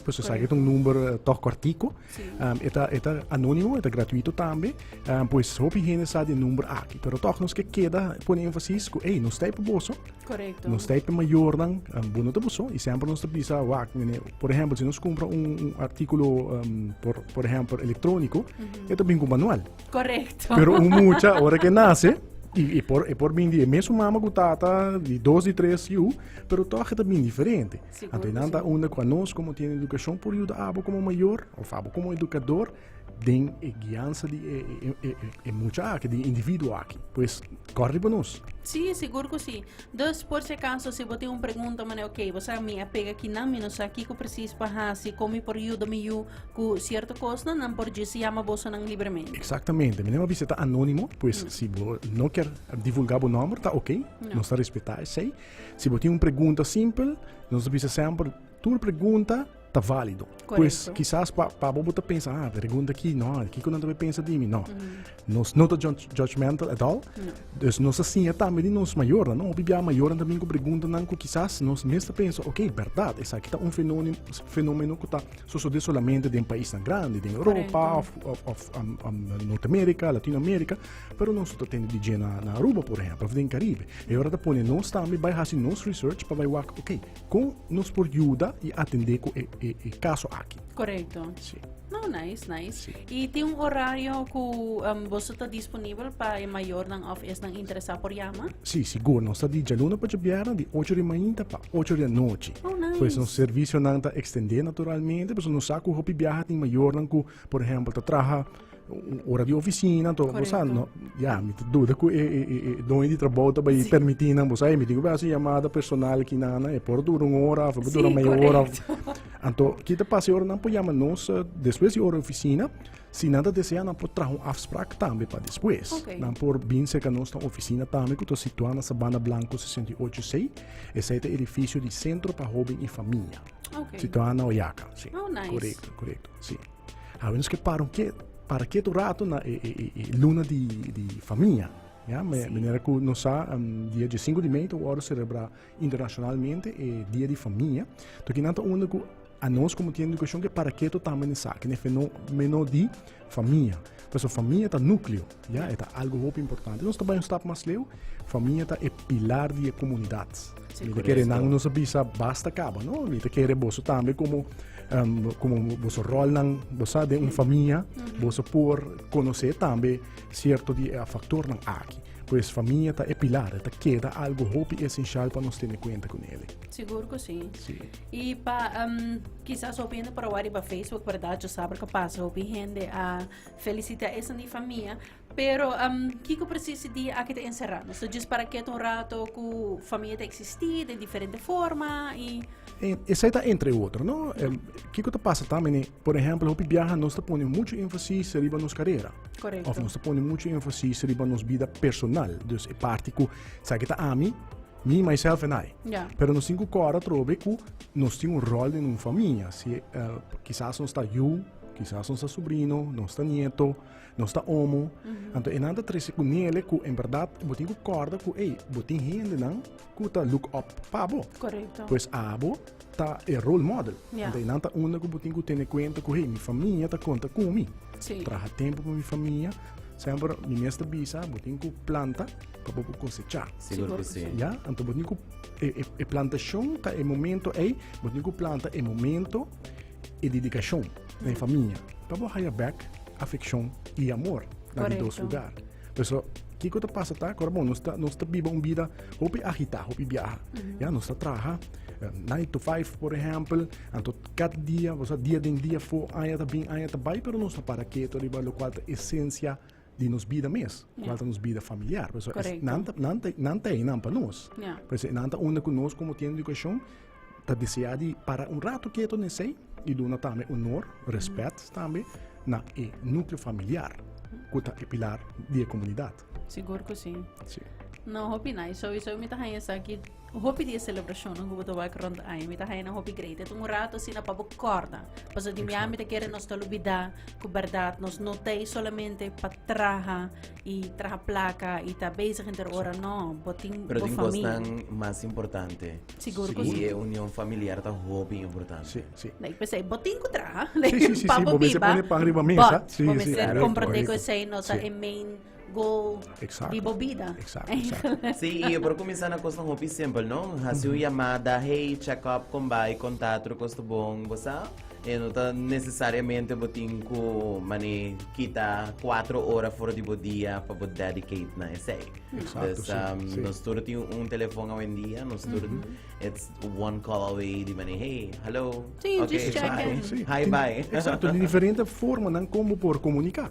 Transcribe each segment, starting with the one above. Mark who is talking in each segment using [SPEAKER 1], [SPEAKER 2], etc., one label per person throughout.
[SPEAKER 1] Pues u sabe ta un number tog cortico e ta e
[SPEAKER 2] ta
[SPEAKER 1] anonimo e ta gratuito tambe pues hopi hende sa di e number aki pero tog nos ke keda pone enfasis ku ey nos ta ey pa boso nos ta ey pa
[SPEAKER 2] mayornan
[SPEAKER 1] bo no ta boso y semper nos ta bisa wak mene por ehempel si nos cumpra un articulo por ehempel electronico e ta bin ku manual pero
[SPEAKER 2] un mucha
[SPEAKER 1] ora ke nace e por e por bin di e mesun mama ku tata di dos di tres yu pero tog e ta bin diferente. Anto e nan ta unda
[SPEAKER 2] kua
[SPEAKER 1] nos komo
[SPEAKER 2] tiene
[SPEAKER 1] edukashon por yuda abo komo mayor of abo komo edukador den e giansa di e, e, e, e, e mucha aki, di individuo aki. Pues, kor riba nos. Sí, sigur ku sí.
[SPEAKER 2] Dus, por si akaso, si bo tin un pregunta, mane, ok, bo sa, mi a pega kinan, mi no sa kiko presis pa hasi, kon mi por yuda mi yu ku sierto kosnan, nan por djis yama bosonan libremente. Exactamente. Meneer Mabisa
[SPEAKER 1] está anónimo, pues si bo no quer divulgar bo nombre, está ok. Nos está respetá esei. Si bo tin un pregunta simpel, nos ta bisa semper, tur pregunta ta válido. Pues kisas pa pa bo
[SPEAKER 2] bo ta
[SPEAKER 1] pensa, ah, pregunta aki, no, kiko nan ta por pensa di mi? No. Nos no ta judgmental at all. Dus nos ta siña tambe di nos mayornan, no? Hopi bia mayornan ta bin ku preguntanan ku kisas nos mes ta pensa, ok, bèrdat, esaki ta un fenomeno ku ta sosodé solamente den paisnan grandi, den Europa òf Norteamérika, Latinoamérika. Pero nos no ta tende di dje na Aruba, por ehèmpel, òf den Karibe. E ora ta pone nos tambe bai hasi nos research pa bai wak oke, kon nos por yuda i atendé ku e kaso aki? Korekto. Sí.
[SPEAKER 2] No,
[SPEAKER 1] nice, nice.
[SPEAKER 2] Sí. I tin un
[SPEAKER 1] orario
[SPEAKER 2] ku boso ta disponibel pa e mayornan òf esnan interesá por yama? Sí, sigur. Nos ta
[SPEAKER 1] di djaluna pa djabièrna di ocho di mainta pa ocho di anochi. Oh, nice. Pues nos
[SPEAKER 2] servisionan
[SPEAKER 1] ta ekstendé naturalmente, pasobra nos sa ku hopi biaha tin mayornan ku, por ehèmpel, ta traha Ora di oficina to bo sa no ya mi ta duda ku e e e doño di trabou ta bai permiti nan bo sa e mi digo basi yamada personal ki nana e por dura un ora of e por dura meia ora anto kita pasa e ora nan por yama nos despues di ora oficina si nan ta desea nan por traha un afsprak tambe pa despues nan por bin
[SPEAKER 2] serka
[SPEAKER 1] nos na oficina tambe ku ta situa na sabana blanco sesenta i ocho c esei ta edificio di centro pa hoben i famia situa na
[SPEAKER 2] oyaka
[SPEAKER 1] si korekto korekto
[SPEAKER 2] si.
[SPEAKER 1] A menos que para un que para que tu rato na e, e, e, e luna di, di famia. Ja, me, sí. Menera ku no sa um, dia 15 di mei to word celebra internacionalmente e dia di famia. To ki nanta uno ku a nos como tiene educación que para que to tamane sa, que nefe no meno di famia. Pues so famia ta núcleo. Ya, e ta algu hopi importante. Nos ta bai un stap mas leu, famia ta e pilar di e komunidat. Mi ta kere nan nos a bisa basta kaba, no? Mi ta kere boso tambe komo um, komo boso rolnan, boso sa den un famia, boso por konosé tambe sierto di e faktornan aki. Pues famia ta e pilar, e ta keda algu hopi esensial pa nos tene kuenta ku nele. Sigur ku si.
[SPEAKER 2] Si. I pa um, kisas hopi hende por a wak riba Facebook, berdad? Yo sabra ka pasa hopi hende a Felicita esnan di famia. Pero um, kiko precies e dia aki ta encerrá? Nos ta just para keto un rato ku famia ta existí den diferente forma i E, esai ta
[SPEAKER 1] entre otro, no? Em, kiko ta pasa tambe ni, por ejemplo, hopi biaha nos ta pone mucho énfasis riba nos carrera. Correcto. Of nos ta pone
[SPEAKER 2] mucho
[SPEAKER 1] énfasis riba nos vida personal. Dus e parte ku sa ki ta ami, me, myself and I. Ja. Pero nos tin ku kora trobe ku nos tin un rol den un famia. Si, eh, quizás nos ta yu, Kisas nos ta subrino, nos ta nieto, nos ta omo. Mm -hmm. Anto enan ta trece ku nele ku en verdad bo tin ku korda ku ei, bo tin hende nan ku ta look up pa bo. Correcto. Pues abo ta e role model. Yeah. Anto enan ta unda
[SPEAKER 2] ku bo tin
[SPEAKER 1] ku tene kuenta ku hey, mi famia ta konta ku mi. Sí. Traha tempo
[SPEAKER 2] pa mi
[SPEAKER 1] famia. Semper mi mes ta bisa, bo tin ku planta pa bo kosecha. Sigur ku si. Ja,
[SPEAKER 3] anto bo tin ku
[SPEAKER 1] e, e, e plantashon ta e momento ei, bo tin ku planta e momento E dedikashon na e famia ta por haya bèk afekshon i amor na di dos lugar. Por eso, kiko ta pasa ta ku bon nos ta nos ta biba un bida hopi agitá, hopi biaha. Ya nos ta traha nine to five por ehèmpel, anto kat dia, boso dia den dia fo aya ta bin aya ta bai pero nos no para keto riba lokual ta esensia di nos bida mes, kual ta nos bida familiar. Por eso es, nan ta, nan ta, nan ta einan pa nos. Por eso einan ta unda ku nos komo tienda di edukashon ta deseá di para un ratu ketu nesei i duna tambe onor, rèspèt tambe na e núkleo familiar ku ta e pilar di e
[SPEAKER 2] komunidat. Sigur ku si. Sí. No, hopi nai. Souiso mi ta haña esaki. Hopi di e celebracionnan cu bo ta wak rond aña mi ta haya na hopi greita. Tuma un rato asina pa bo corda. Pasobra di miami ta kere nos ta lubida cu berdad nos no ta ey solamente pa traha y traha placa y ta bezig henter ora. No, bo tin bo familia. Pero tin cosnan
[SPEAKER 3] mas
[SPEAKER 2] importante.
[SPEAKER 3] Sigur cu si. Y e
[SPEAKER 2] union familiar ta
[SPEAKER 3] hopi importante. Si, si. Like p'esey
[SPEAKER 1] bo tin cu
[SPEAKER 2] traha. Si, si, si, si. Bo mester
[SPEAKER 1] pone pan riba mesa. Si, si. Bo mester comprende
[SPEAKER 2] cu
[SPEAKER 1] esey no ta
[SPEAKER 2] e
[SPEAKER 1] main.
[SPEAKER 2] go Exacto. di bo bida.
[SPEAKER 1] Exacto,
[SPEAKER 2] exacto.
[SPEAKER 1] Sí, y yo por comenzá
[SPEAKER 3] na cosnan hopi simple, no? Haci un llamada, hey, check up, con bai, con ta, otro cos ta bon, bo sa? E no ta necesariamente bo tin cu, mani, kita cuatro ora for di bo dia pa bo dedicate na esey. Exacto, Dus, sí, um,
[SPEAKER 1] sí. nos tur tin un
[SPEAKER 3] telefoon awendia, nos tur, it's one call away, di mani, hey, hello, Sí, okay, just check
[SPEAKER 2] bye. in. Sí.
[SPEAKER 3] Hi, Tin-
[SPEAKER 2] bye.
[SPEAKER 1] Exacto,
[SPEAKER 3] di diferente
[SPEAKER 1] forma nan como por comunica.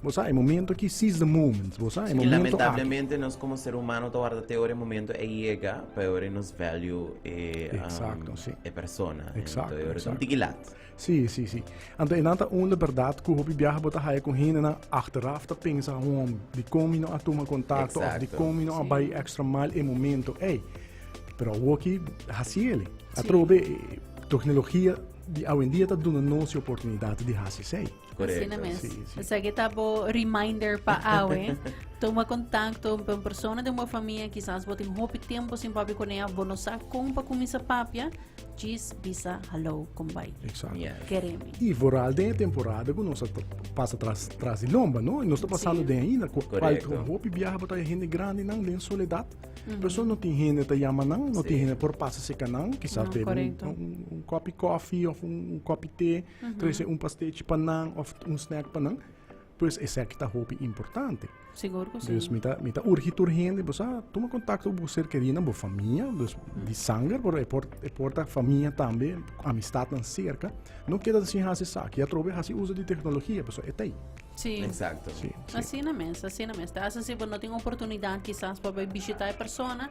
[SPEAKER 1] Bo sa e momento aki, seize the moment, bo sa e momento aki. I lamentablemente
[SPEAKER 3] nos
[SPEAKER 1] komo
[SPEAKER 3] ser humano ta warda te ora e momento ei yega pa e ora nos value e Exacto,
[SPEAKER 1] si. e persona.
[SPEAKER 3] Exacto, e ora ta un
[SPEAKER 1] tiki lat. Si,
[SPEAKER 3] si, si.
[SPEAKER 1] Anto e nan ta un de berdad ku hopi biaha bo ta haya ku hendenan achteraf ta pensa hom dikon mi no a tuma kontakto of Exacto, dikon mi no a si. bai
[SPEAKER 3] extra
[SPEAKER 1] mal e momento ei. Pero awo aki hasi el. Si. Atrobe e toknologia di awendia ta duna nos e oportunidat di hasi esei. Asina mes.
[SPEAKER 2] Sí, sí.
[SPEAKER 3] Esaki
[SPEAKER 2] ta bo reminder pa awe. Toma contacto con persona de bo familia. Quizás bo tin hopi tiempo sin papi con ella. Bo no sa con pa comienza papia. Jis bisa hallo con bai. Exacto. Yeah.
[SPEAKER 1] Keremi. Y
[SPEAKER 3] vooral
[SPEAKER 2] den e
[SPEAKER 1] temporada ku nos ta pasa tras tras di lomba, no? Y nos ta pasando Sí. den ainda ku Correcto.
[SPEAKER 2] paltro
[SPEAKER 1] hopi
[SPEAKER 3] biaha bota e
[SPEAKER 1] hende grande nan den soledad. Perso no tin hende ta yama nan, no Sí. tin hende por pasa seka nan, quizás No, bebe un, correcto. un, un
[SPEAKER 2] kopi
[SPEAKER 1] kofi of un, un kopi te. Trece un pasteci pa nan of un snack pa nan, pues esaki ta hopi importante. Sigur ku si. Dus
[SPEAKER 2] mi ta mi ta urgi
[SPEAKER 1] tur hende, bo sa tuma kontakto ku bo ser kerinan, bo famia, dus di sanger, pero e por e por ta famia tambe, amistatnan serka. No keda sin hasi esaki, ya trobe hasi uso di teknologia, pues e tei. Si. Exacto.
[SPEAKER 2] Si, si.
[SPEAKER 3] Asina
[SPEAKER 1] mes, asina
[SPEAKER 2] mes. Ta hasi si bo no tin oportunidat kisas pa bai bishita e persona,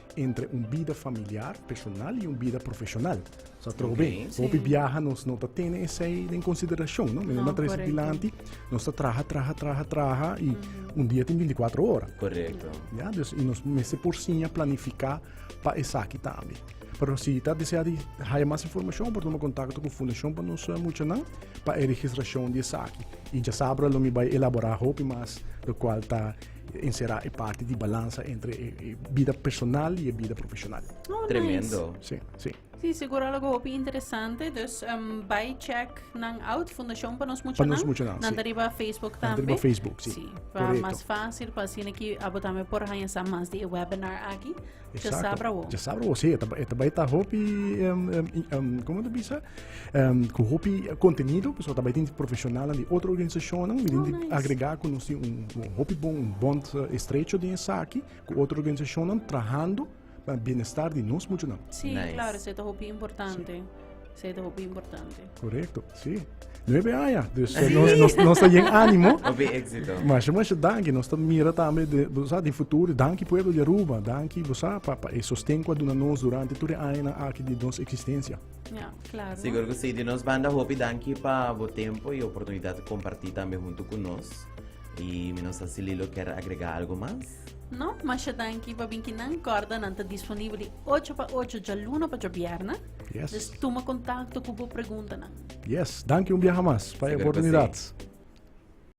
[SPEAKER 1] entre un bida familiar, personal y un bida profesional. O sea, trobe, okay, sí. hopi viaja nos no
[SPEAKER 2] ta
[SPEAKER 1] tene esei den consideracion, no? Menena no, tres dilanti,
[SPEAKER 2] nos ta
[SPEAKER 1] traha, traha, traha, traha y mm -hmm. un dia tin 24 hora. Correcto. Ja,
[SPEAKER 3] dus, y nos
[SPEAKER 1] mese por siña planifica pa esaki tambe. Pero si ta desea di haya mas informacion, por toma contacto con Fundacion pa nos mucha nan, pa e registracion di esaki. Y ja sabra lo mi bay elabora hopi mas, lo cual ta Encerá e parti di balansa entre e bida personal i e bida profeshonal. Tremendo.
[SPEAKER 2] Sí, sí.
[SPEAKER 3] Sí,
[SPEAKER 1] seguro algo
[SPEAKER 2] hopi interesante. Dus um, by check nan out Fundacion pa nos mucha nan. mucha nan, Nan sí.
[SPEAKER 1] riba Facebook tambe. Nan
[SPEAKER 2] riba Facebook, sí. Sí, pa
[SPEAKER 1] Correcto. mas
[SPEAKER 2] fácil pa
[SPEAKER 1] sine
[SPEAKER 2] ki abo tambe por hanya sa mas di e webinar aki. Exacto. Ya sabra wo. Ya sabra wo, sí. Eta, eta
[SPEAKER 1] bai ta hopi, um, um, um, como te bisa? Um, ku hopi contenido, pues eta bai tin profesional di otro organisación, mi tin oh, nice. agrega ku
[SPEAKER 2] nos tin un,
[SPEAKER 1] un hopi bon, un bond uh, estrecho di esaki, ku otro organisación trabajando para bienestar di nos mucho nan. Sí, nice. claro, se ta
[SPEAKER 2] hopi importante. Sí. Sei ta hopi importante. Correcto, sí.
[SPEAKER 1] Nueve años. Dus eh, nos, nos, nos ta yen ánimo. Hopi éxito.
[SPEAKER 3] Mas, mas, danki.
[SPEAKER 1] Nos ta mira tambe de, bosa, de futuro. Danki pueblo de Aruba. Danki, bosa, pa, pa e sosten kua duna nos durante tur e año na aki di nos existencia. Ja, claro.
[SPEAKER 2] Seguro que sí. De nos banda,
[SPEAKER 3] hopi danki pa bo tempo y oportunidad de compartir tambe junto con nos. Y menos así Lilo quer agregar algo más. No, masha
[SPEAKER 2] danki pa binkinan. Corda nan ta disponible 8 pa 8 dja luna pa dja bierna. Yes. Nos tuma kontakto ku bo
[SPEAKER 3] preguntanan.
[SPEAKER 1] Yes, danki un
[SPEAKER 2] biaha mas
[SPEAKER 1] pa
[SPEAKER 2] e oportunidat.